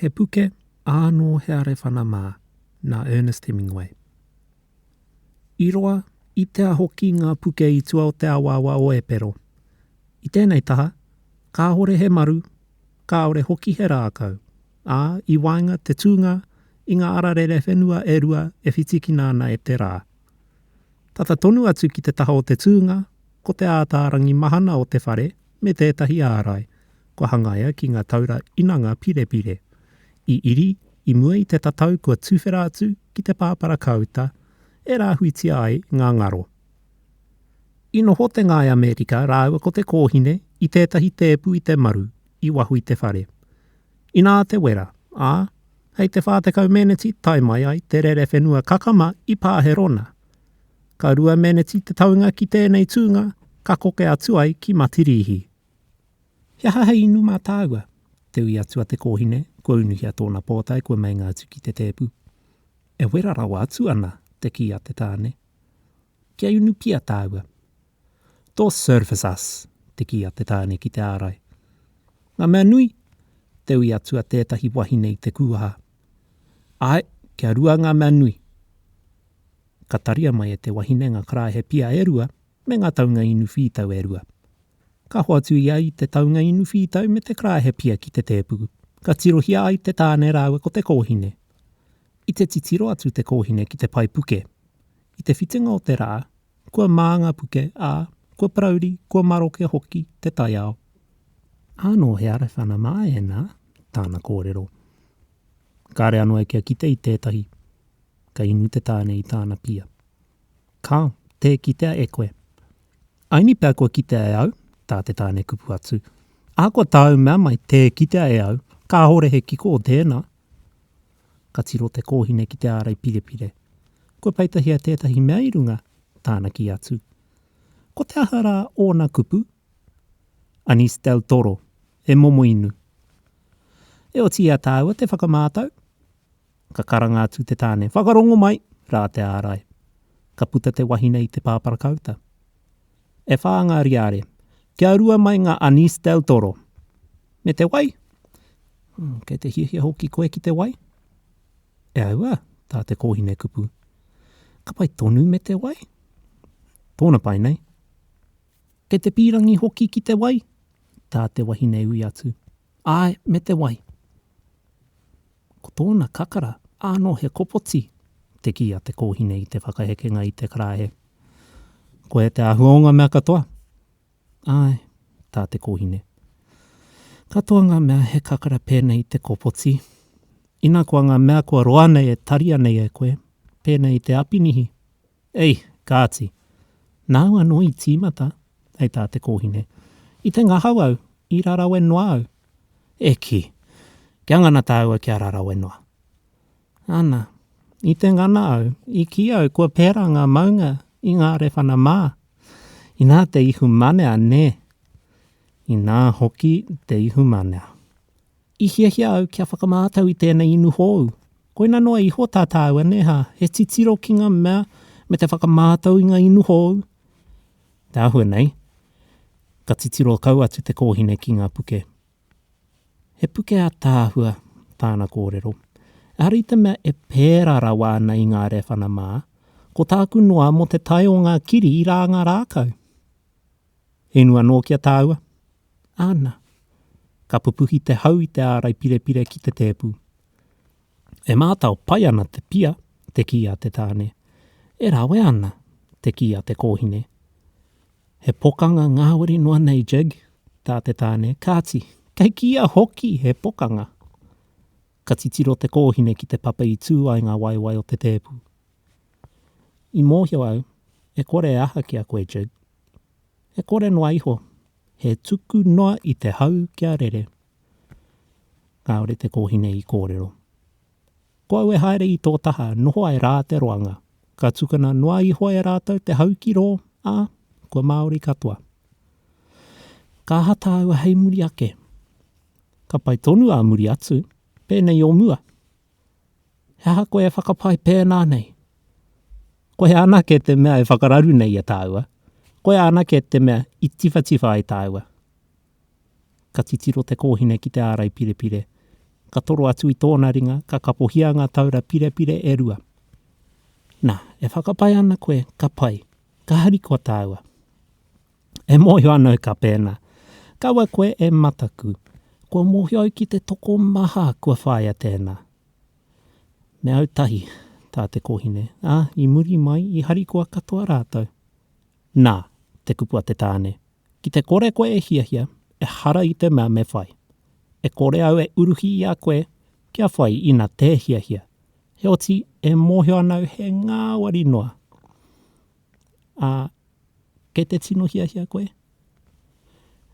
He puke, ānō he arewhana mā, nā Ernest Hemingway. I roa, i tea hoki ngā puke i tua o te awaawa o Epero. I tēnei taha, kāore he maru, kāore hoki he rākau, ā, i waenga te tūnga i ngā ara rerewhenua e rua e whitikina ana e te rā. Tata tonu atu ki te taha o te tūnga, ko te ātaarangi mahana o te whare, me tētahi ārai kua hangaia ki ngā taura inanga pirepire, i iri i mua i te tatau kua tuwhera atu ki te pāparakāuta e rāhuitia ai ngā ngaro. I noho te ngāi Amerika rāua ko te kōhine i tētahi tēpu i te maru i waho i te whare. Inā te wera, ā, hei te 40 meneti tae mai ai te rerewhenua kakama i Pāherona. Ka rua meneti te taunga ki tēnei tūnga ka koke atu ai ki Matirīhi. He aha hei inu mā tāua? Te ui atu a Te Kōhine, kua unuhia tōna pōtae kua meinga atu ki te tēpu. E wera rawa atu ana, te kī a te tāne. Kia inu pia tāua. Tō service us, te kī a te tāne ki te ārai. Ngā mea nui? Te ui atu a tētahi wahine i te kūaha. Ae, kia rua nga mea nui. Ka taria mai e te wahine nga karaehe pia e rua me nga taunga inu whītau e rua. Ka hoatu ia i te taunga inu whītau me te karaehe pia ki te tēpu, ka tirohia ai te tāne rāua ko te kōhine. I te titiro atu te kōhine ki te pae puke. I te whitinga o te rā, Kua māngapuke, ā, kua parauri, kua maroke hoki te taiao. Ānō he arewhana mā ēnā tāna kōrero. Kāre anō e kia kite i tētahi, ka inu te tāne i tāna pia. Kā, tē kitea e koe. Aini pea kua kitea e au, tā te tāne kupu atu. Ahakoa tāu mea mai tē kitea e au, kāhore he kiko o tēnā, Ka tiro te kōhine ki te ārai pirepire. Kua peitahia tētahi mea i runga, tāna kī atu. Ko te aha rā ōna kupu? Anís del Toro, e momo inu. E oti i a tāua te whakamātau. Ka karanga atu te tāne, Whakarongo mai! rā te ārai. Ka puta te wahine i te pāparakāuta. E whā ngā riāre. Kia rua mai ngā Anise del Toro. Me te wai? Mm, kei te hiahia hoki koe ki te wai? E aua, tā te kōhine kupu. Ka pai tonu me te wai? Tōna pai nei. Kei te pīrangi hoki ki te wai? Tā te wahine ui atu. Āe, me te wai. Ko tōna kakara, ānō he kopoti, te kī a te kōhine i te whakahekenga i te karaehe. Koia te āhua o ngā mea katoa? Āe, tā te kōhine. Katoa ngā mea he kakara pēnei i te kopoti. Ina koa ngā mea kua roa nei e taria nei e koe, pēnei i te apinihi, Ei, kāti. Nāu anō i tīmata, hei tā te kōhine. I te ngahau au, i rarawe noa au. E kī! Kia ngana tāua kia rarawe noa. Ana, i te ngana au, i kī au kua pērā ngā maunga i ngā rewhana mā. Inā te ihumanea nē! Inā hoki te ihumanea. I hiahia au kia whakamātau i tēnei inu hōu. Koina noa iho tā tāu aneha, he titiro ki ngā mea me te whakamātau i ngā inu hōu. Te āhua nei, ka titiro kau atu te kōhine ki ngā puke. He puke ātaahua tāna kōrero. Ehara i te mea e pērā rawa ana i ngā rēwhana mā, ko tāku noa mō te tae o ngā kiri i rānga rākau. Hinu anō ki a tāua? Āna. Ka pupuhi te hau i te ārai pirepire ki te tēpu. E mātao pai ana te pia, te kī a te tāne. E rawe ana, te kī a te kōhine. He pokanga ngāwari noa nei, Jig, tā te tāne, kāti, kei kīia hoki he pokanga. Ka titiro te kōhine ki te papa i tū ai ngā waewae o te tēpu. I mōhio au, e kore e aha ki a koe, Jig? E kore noa iho, he tuku noa i te hau kia rere. Kāore te kōhine i kōrero. Ko au e haere i tō taha, noho ai rā te roanga. Ka tukuna noa iho e rātou te hau ki rō, ā, kua Māori katoa. Ka aha tāua hei muri ake? Ka pai tonu ā muri atu, pēnei o mua, He aha koe e whakapae pēnā nei? Koia anake te mea e whakararu nei i a tāua, koia anake te mea i tiwhatiwha ai tāua. Ka titiro te kōhine ki te ārai pirepire, ka toro atu i tōna ringa, ka kapohia ngā taura pirepire e rua. Nā, e whakapae ana koe ka pai, ka harikoa tāua. E mōhio ana au ka pēnā. Kaua koe e mataku. Kua mōhio au ki te tokomaha kua whāia tēnā. Me au tahi, tā te kōhine, ā, i muri mai i harikoa katoa rātou. Nā, te kupu a te tāne, Ki te kore koe e hiahia, ehara i te mea me whai. E kore au e uruhi i a koe kia whai ina tē hiahia. Heoti, e mōhio ana au he ngāwari noa. Ā, kei te tino hiahia koe?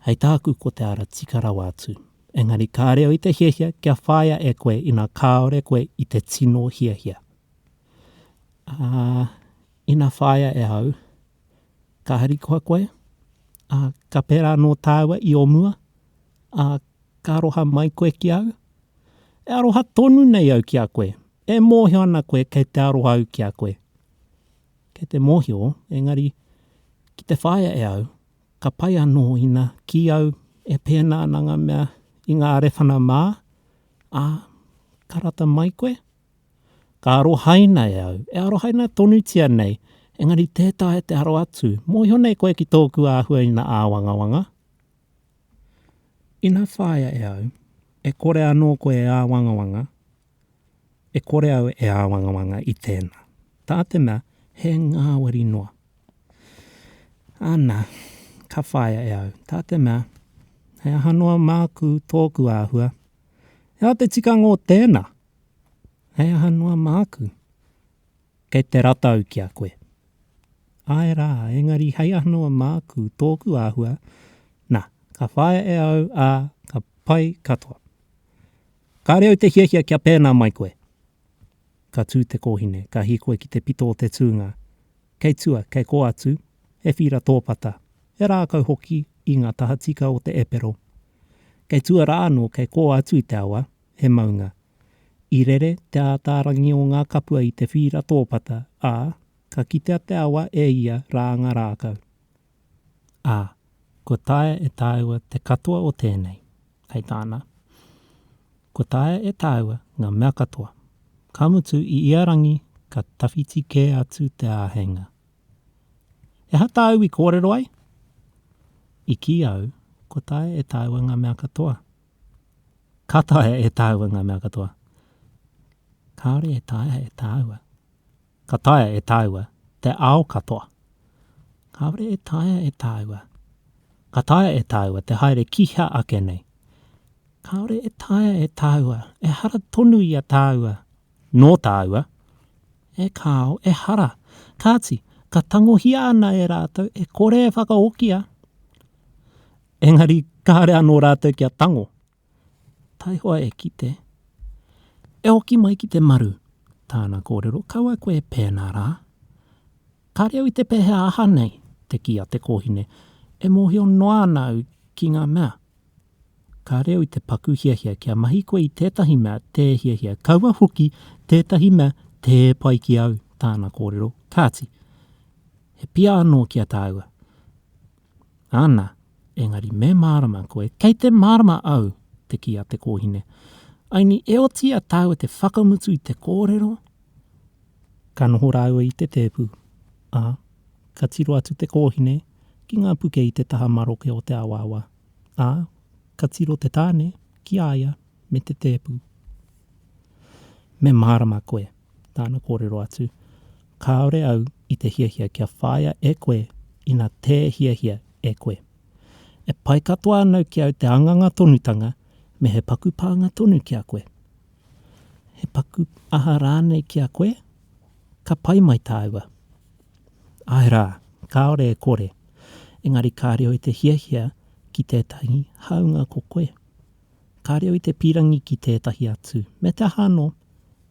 Hei tāku ko te ara tika rawa atu. Engari ka reo i te hiahia kia whāia e koe ina kāore koe i te tino hiahia. Ā, ina whāia e au, ka harikoa koe, ā, ka pērā anō tāua i ō mua, ā, ka aroha mai koe ki au? E aroha tonu nei au ki a koe, e mōhio ana koe kei te aroha au ki a koe. Kei te mōhio, engari, ki te whāia e au, ka pai anō ina kī au e pēnā ana ngā mea i ngā rewhana mā, ā, ka rata mai koe? Ka arohaina e au, e arohaina tonutia nei, engari tē taea te aro atu, mōhio nei koe ki tōku āhuaina āwangawanga? Ina whāia e au, e kore anō koe e āwangawanga, E kore au e āwangawanga i tēnā. Tā te mea, he ngāwari noa. Ana, ka whāia e au. Tā te mea, he aha noa māku tōku āhua. He aha te tikanga o tēnā? He aha noa māku? Kei te rata au ki a koe. Āe rā, engari hei aha noa māku tōku āhua? Nā, ka whāia e au, ā, ka pai katoa. Kāre au te hiahia kia pēnā mai koe. Ka tū te kōhine, ka hīkoi ki te pito o te tūnga. Kei tua, kei kō atu, he whīra tōpata, he rākau hoki i ngā tahatika o te epero. Kei tua rā anō, kei kō atu i te awa, he maunga. I rere te ātārangi o ngā kapua i te whīra tōpata, ā, ka kitea te awa e ia rā ngā rākau. ā, kua taea e tāua te katoa o tēnei, hei tāna, Kua taea e tāua ngā mea katoa, ka mutu i ia rangi ka tawhiti kē atu te āheinga. E aha tāu i kōrero ai? I kī au, Kua taea e tāua ngā mea katoa. Ka taea e tāua ngā mea katoa. Kāore e taea e tāua. Ka taea e tāua te ao katoa. Kāore e taea e tāua. Ka taea e tāua te haere ki hea ake nei. Kāore e taea e tāua, ehara tonu i a tāua, nō tāua. E kāo, ehara. Kāti, ka tangohia ana e rātou e kore e whakahokia. Engari kāore anō rātou kia tango. Taihoa e kite, e hoki mai ki te maru, tāna kōrero, kaua koe e pēnā rā. Kāre au i te pēhea aha nei, te kī a te kōhine, e mōhio noa ana au ki ngā mea. Kāre au i te paku hiahia kia mahi koe i tētahi mea tē hiahia, kaua hoki tētahi mea tē pai ki au, tāna kōrero, kāti, he pia anō ki a tāua. Ana, engari me mārama koe, kei te mārama au, te kī a te kōhine. Aini, e oti a tāu e te whakamutu i te kōrero. Ka noho rāua i te tēpu, ā, ka tiro atu te kōhine ki ngā puke i te taha maroke o te awaawa, ā, ka tiro te tāne ki a ia me te tēpu. Me mārama koe. Tāna kōrero atu, Kāore au i te hiahia kia whāia e koe ina tē hiahia e koe. E pai katoa anau ki au te anganga tonutanga me he paku pānga tonu ki a koe. He paku aha rānei ki a koe, ka pai mai tāua. Āe rā, kāore e kore, engari kāre au i te hiahia ki tētahi hāunga ko koe. Ka reo i te pīrangi ki tētahi atu, me te aha anō,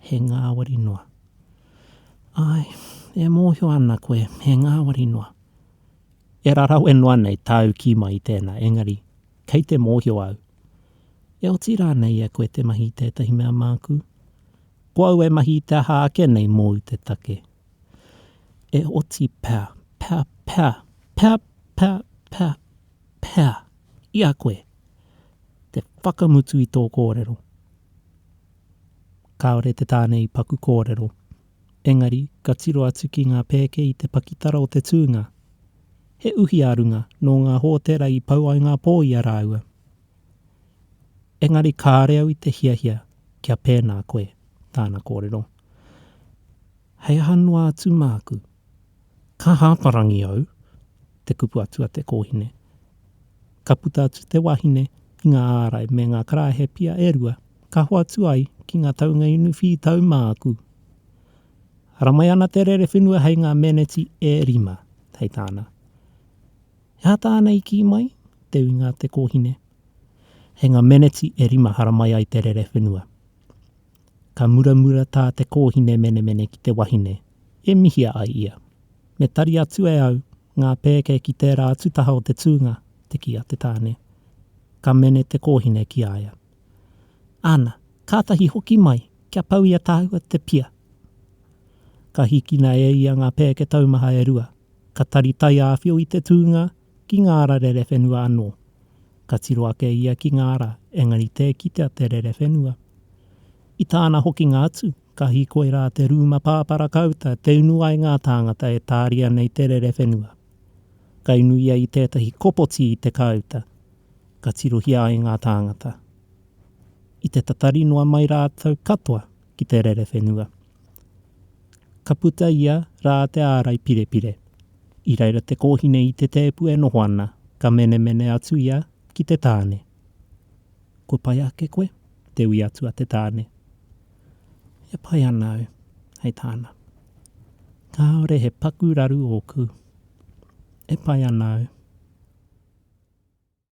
he ngāwari noa. Āe, e mōhio ana koe, he ngāwari noa. E rarawe noa nei tāu kī mai i tēnā, engari, kei te mōhio au. E oti rānei e koe te mahi i tētahi mea māku? Ko au e mahi i te aha ake nei mōu te take? E oti pea, pea, pea, pea, pea, pea, pea, i a koe? te whakamutu i tō kōrero. Kāore te tāne i paku kōrero, engari ka tiro atu ki ngā pēke i te pakitara o te tūnga. He uhi a runga nō ngā hōtera i pau ai ngā pō i a rāua. Engari kāore au i te hiahia kia pēnā koe, tāna kōrero. Hei aha noa atu māku? Ka hāparangi au, te kupu atu a te kōhine. Ka puta atu te wahine ki ngā ārai me ngā karaehe pia e rua, ka hoatu ai ki ngā taunga inu whī tau māku. Haramai ana te rere whenua hei ngā meneti e rima, hei tāna. He aha tāna i kī mai? te uinga a te kōhine. Hei ngā meneti e rima haramai ai te rere whenua. Ka muramura tā te kōhine menemene ki te wahine, e mihia ai ia. Me tari atu e au ngā pēke ki tērā atu taha o te tūnga, te kī a te tāne. Ka mene te kōhine ki a ia. Ana, kātahi hoki mai, kia pau i a tāua te pia. Ka hikina e ia ngā pēke taumaha e rua. Ka tari taiāwhio i te tūnga, ki ngā ara rerewhenua anō. Ka tiro ake ia ki ngā ara, engari tē kitea te rerewhenua. I tāna hokinga atu, ka hīkoi rā te rūma pāpara kāuta te unu ai ngā tāngata e tāria nei te rerewhenua. Ka inu ia i tētahi kopoti i te kāuta, ka tirohia ai ngā tāngata. I te tatari noa mai rātou katoa ki te rerewhenua. Ka puta ia rā te ārai pirepire. I reira te kōhine i te tēpu e noho ana, ka menemene atu ia ki te tāne. Kua pai ake koe? te ui atu a te tāne. E pai ana au, hei tāna. Kāore he paku raru ōku. E pai ana au.